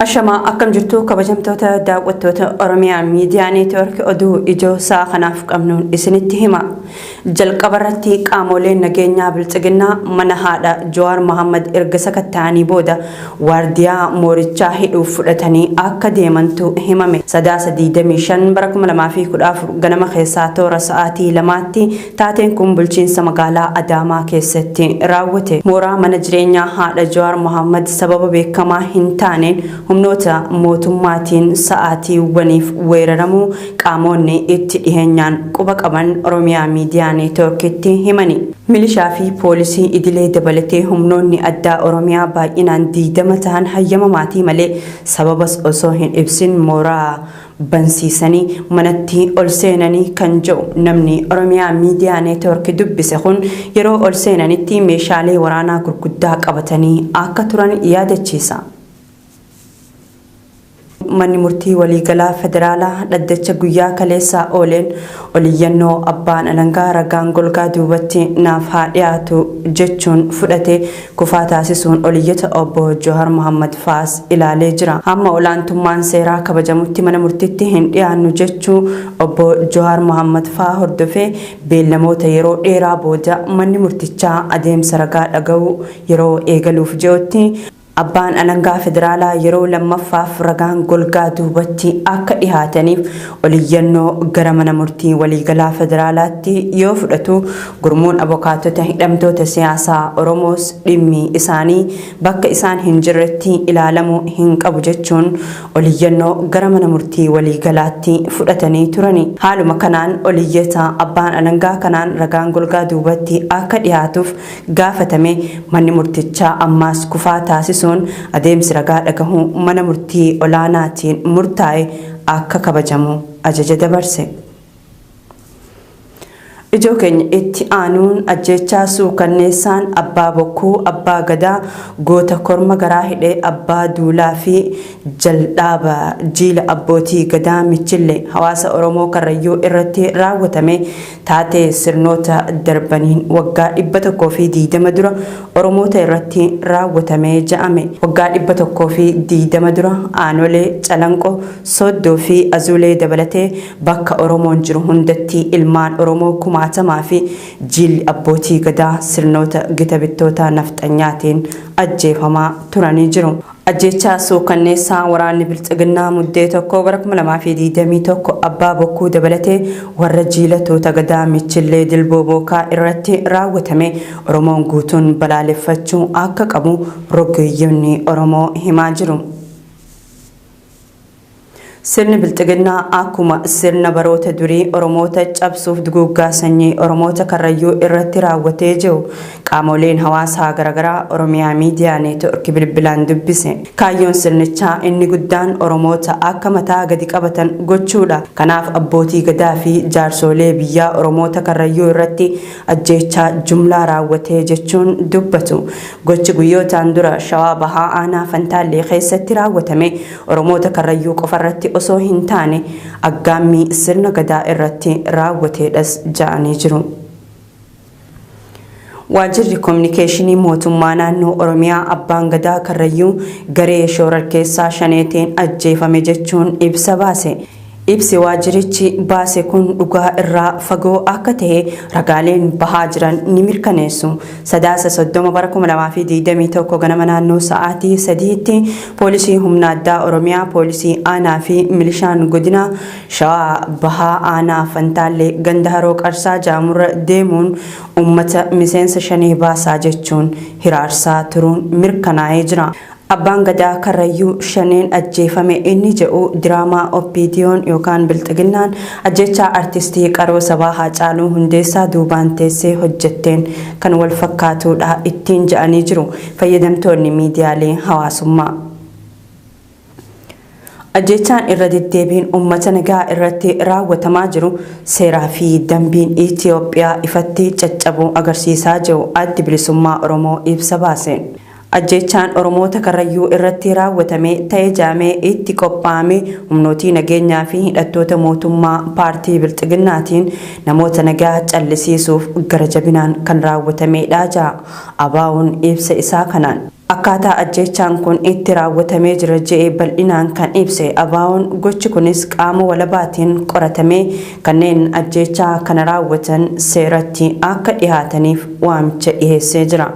Ashamaa akkam jirtu kabajamtoota daawwattoota Oromiyaa miidiyaa neetwoorkii oduu ijoo sa'a kanaaf qabnuun isinitti hima. Jalqabarratti qaamoleen nageenyaa Biltsiginnaa mana haadha Jawaar Mahaammad erga sakatta'anii booda waardiyaa moorichaa hidhuuf fudhatanii akka deemantu himame. Sadaasa 25 bara 2014 ganama keessaa toora sa'aatii lamaatti taateen kun bulchiinsa magaalaa Adaamaa keessatti raawwate. Mooraa mana jireenyaa haadha Jawaar Mahaammad sababa beekamaa hin taaneen humnoota mootummaatiin sa'aatiiwwaniif weeraramuu Qaamoonni itti dhiheenyaan quba qaban Oromiyaa Miidiyaa Neetwoorkitti himani. Milishaa fi poolisii idilee dabalatee humnoonni addaa Oromiyaa baay'inaan 20 tahan hayyama maatii malee sababas osoo hin ibsin mooraa bansiisanii manatti ol seenani kan jedhu namni Oromiyaa Miidiyaa Neetwoorki dubbise kun yeroo ol seenanitti meeshaalee waraanaa gurguddaa qabatanii akka turan yaadachiisa. Manni Murtii Waliigalaa Federaalaa dhaddacha guyyaa kaleessaa ooleen oliyyannoo abbaan alangaa ragaan golgaa duubatti naaf haa dhiyaatu jechuun fudhate kufaa taasisuun oliyyata Obbo Jawhar Mohammad fa'aas ilaalee jira. Hamma olaantummaan seeraa kabajamutti mana murtiitti hin dhiyaannu jechuu Obbo Jawhar Mohammad fa'aa hordofee beellamoota yeroo dheeraa booda manni murtichaa adeemsa ragaa dhaga'uu yeroo eegaluuf ji'otti Abbaan Alangaa Federaalaa yeroo lammaffaaf ragaan golgaa duubatti akka dhihaataniif oliyyannoo gara Mana Murtii Waliigalaa Federaalaatti yoo fudhatu, gurmuun abokaatota hidhamtoota siyaasaa Oromoos dhimmi isaanii bakka isaan hin jirretti ilaalamuu hin qabu jechuun oliyyannoo gara Mana Murtii Waliigalaatti fudhatanii turani. Haaluma kanaan oliyyataa Abbaan Alangaa kanaan ragaan golgaa duubatti akka dhihaatuuf gaafatame manni murtichaa ammaas kufaa taasisuun adeemsi ragaa dhagahuu mana murtii olaanaatiin murtaa'e akka kabajamu ajaja dabarse. Ijoo keenya itti aanuun ajjeechaa suukanneessaan abbaa bokkuu abbaa gadaa goota korma garaa hidhe abbaa duulaa fi jaldhaaba jiila abbootii gadaa michille hawaasa Oromoo Karrayyuu irratti raawwatame Taatee sirnoota darbaniin waggaa 120 dura Oromoota irratti raawwatame ja'ame. Waggaa 120 dura Aanolee, Calanqoo, Sooddoo fi Azuulee dabalatee bakka Oromoon jiru hundatti ilmaan Oromoo kumaatamaa fi jiilli abbootii gadaa sirnoota gita bittootaa nafxanyaatiin ajjeefamaa turanii jiru. Ajjeechaa suukanneessaa waraanni Biltsiginnaa Muddee 1 bara 2021 Abbaa Bokkuu dabalatee warra jiila tuuta Gadaa Michillee Dilboo Bookaa irratti raawwatame Oromoon guutuun balaaleffachuu akka qabu rogeeyyonni Oromoo himaa jiru. Sirni Bilxiginnaa akkuma sirna baroota durii Oromoota cabsuuf duguuggaa sanyii Oromoota Karrayyuu irratti raawwatee jiru qaamooleen hawaasaa garagaraa Oromiyaa Miidiyaa Neetwork bilbilaan dubbise. Kaayyoon sirnichaa inni guddaan Oromoota akka mataa gadi qabatan gochuudha. Kanaaf abbootii gadaa fi jaarsoolee biyyaa Oromoota Karrayyuu irratti ajjeechaa jumlaa raawwatee jechuun dubbatu. Gochi guyyootaan dura Shawaa Bahaa Aanaa Fantaallee keessatti raawwatame Oromoota Karrayyuu qofarratti osoo hin taane aggaammii sirna Gadaa irratti raawwateedhas ja'anii jiru. Waajirri Kominikeeshinii Mootummaa Naannoo Oromiyaa Abbaan Gadaa Karrayyuu garee shoorarkeessaa Shaneetiin ajjeefame jechuun ibsa baase. Ibsi waajjirichi baase kun dhugaa irraa fagoo akka ta'e ragaaleen bahaa jiran ni mirkaneessu. Sadaasa 30 bara 2021 ganama naannoo sa'aatii 3tti Poolisii Humna Addaa Oromiyaa, Poolisii Aanaa fi Milishaan Godina Shawaa Bahaa Aanaa Fantaallee ganda Haroo Qarsaa jedhamurra deemuun uummata miseensa Shanee baasaa jechuun hiraarsaa turuun mirkanaa'ee jira. Abbaan Gadaa Karrayyuu shaneen ajjeefame inni jedhu diraamaa OPDOn yookaan Bilxiginnaan ajjeechaa Artistii qaroo sabaa Haacaaluu Hundeessaa duubaan teessee hojjetteen kan wal fakkaatuudha ittiin jedhanii jiru fayyadamtoonni miidiyaalee hawaasummaa. Ajjeechaan irra deddeebiin uummata nagaa irratti raawwatamaa jiru seeraa fi dambiin Itiyoophiyaa ifatti caccabuu agarsiisaa jiru Addi Bilisummaa Oromoo ibsa baaseen. Ajjeechaan Oromoota Karrayyuu irratti raawwatame ta'e jaamee itti qophaa'ame humnootii nageenyaa fi hidhattoota mootummaa paartii Bilxiginnaatiin namoota nagaa callisiisuuf gara jabinaan kan raawwatameedha jedha ABOn ibsa isaa kanaan. Akkaataa ajjeechaan kun itti raawwatamee jira je'e bal'inaan kan ibse ABOn gochi kunis qaama walabaatiin qoratamee kanneen ajjeechaa kana raawwatan seeratti akka dhihaataniif waamicha dhiheessee jira.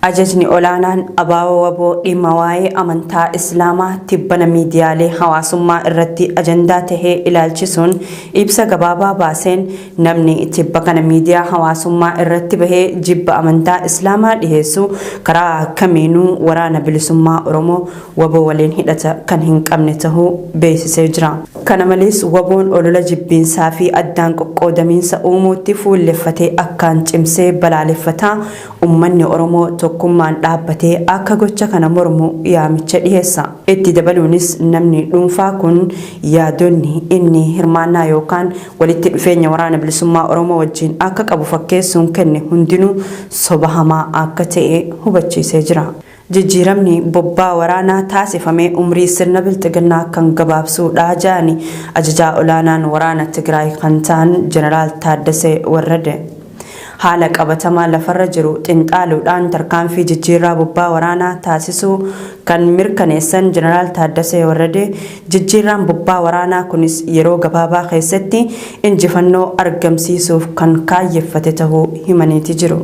Ajajni olaanaan ABO-wbo dhimma waa'ee amantaa Islaamaa tibbana miidiyaalee hawaasummaa irratti ajandaa tahee ilaalchisuun ibsa gabaabaa baaseen, Namni tibba kana miidiyaa hawaasummaa irratti bahee jibba amantaa Islaamaa dhiheessu karaa kamiinuu Waraana Bilisummaa Oromoo, wbo, waliin hidhata kan hin qabne tahuu beeksisee jira. Kana malees wbo'n olola jibbiinsaa fi addaan qoqqoodamiinsa uumuutti fuulleffate akkaan cimsee balaaleffata, ummanni Oromoo tokkummaan dhaabbatee akka gocha kana mormu yaamicha dhiheessa. Itti dabaluunis namni dhuunfaa kun yaadonni inni hirmaannaa yookaan walitti dhufeenya Waraana Bilisummaa Oromoo wajjiin akka qabu fakkeessuun kenne hundinuu soba hamaa akka ta'e hubachiisee jira. Jijjiiramni bobbaa waraanaa taasifame umrii sirna Bilxiginnaa kan gabaabsuu dha jedhani Ajajaa Olaanaan Waraana Tigraay kan ta'an Jeneraal Taaddasee Warrade. Haala qabatamaa lafarra jiru xinxaaluudhaan tarkaanfii jijjiirraa bobbaa waraanaa taasisuu kan mirkaneessan Jeneraal Taaddasee Warradee, jijjiirraan bobbaa waraanaa kunis yeroo gabaabaa keessatti injifannoo argamsiisuuf kan kaayyeffate tahuu himaniiti jiru.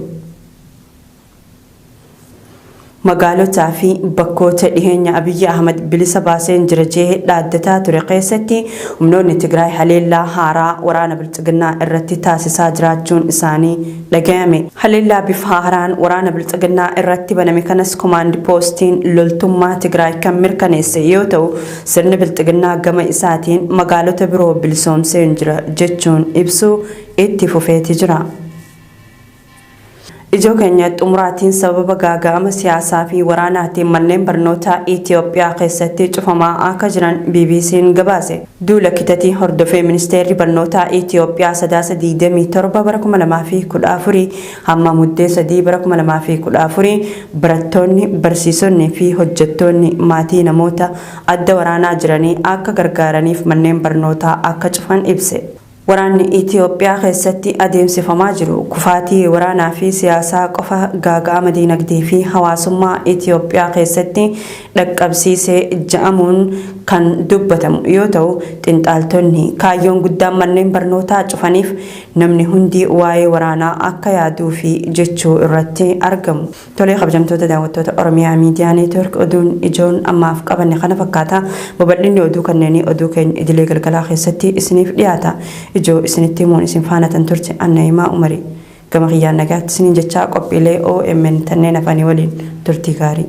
Magaalotaa fi bakkoota dhiheenya Abiyyi Ahmad bilisa baaseen jira jee dhaaddataa ture keessatti humnoonni Tigraay haleellaa haaraa waraana Bilxiginnaa irratti taasisaa jiraachuun isaanii dhagayame. Haleellaa bifa haaraan waraana Bilxiginnaa irratti baname kanas Komaand Poostiin loltummaa Tigraay kan mirkaneesse yoo ta'u, sirni Bilxiginnaa gama isaatiin magaalota biroo bilisoomseen jira jechuun ibsuu itti fufeeti jira. Ijoo keenya xumuraatiin sababa gaaga'ama siyaasaa fi waraanaatiin manneen barnootaa Itiyoophiyaa keessatti cufamaa akka jiran BBC'n gabaase. Duula kitatii hordofee Ministeerri Barnootaa Itiyoophiyaa Sadaasa 27 bara 2014 hamma Muddee 3 bara 2014 barattoonni, barsiisonni fi hojjettoonni maatii namoota adda waraanaa jiranii akka gargaaraniif manneen barnootaa akka cufan ibse. Waraanni Itiyoophiyaa keessatti adeemsifamaa jiru kufaatii waraanaa fi siyaasaa qofa gaaga'ama diinagdee fi hawaasummaa Itiyoophiyaa keessatti dhaqqabsiise ja'amuun kan dubbatamu yoo ta'u, xinxaaltonni kaayyoon guddaan manneen barnootaa cufaniif namni hundi waa'ee waraanaa akka yaaduufi jechuu irratti argamu. Tolee kabajamtoota daawwattoota Oromiyaa Miidiyaa Neetwork oduun ijoon ammaaf qabanne kana fakkaata. Babal'inni oduu kanneenii oduu keenya idilee galgalaa keessatti isiniif dhiyaata. Ijoo isinitti himuun isin faana tan turte an Na'imaa Umari. Gama kiyyaan nagaatti isiniin jechaa qophiilee omn tanneen hafanii waliin turtii gaarii.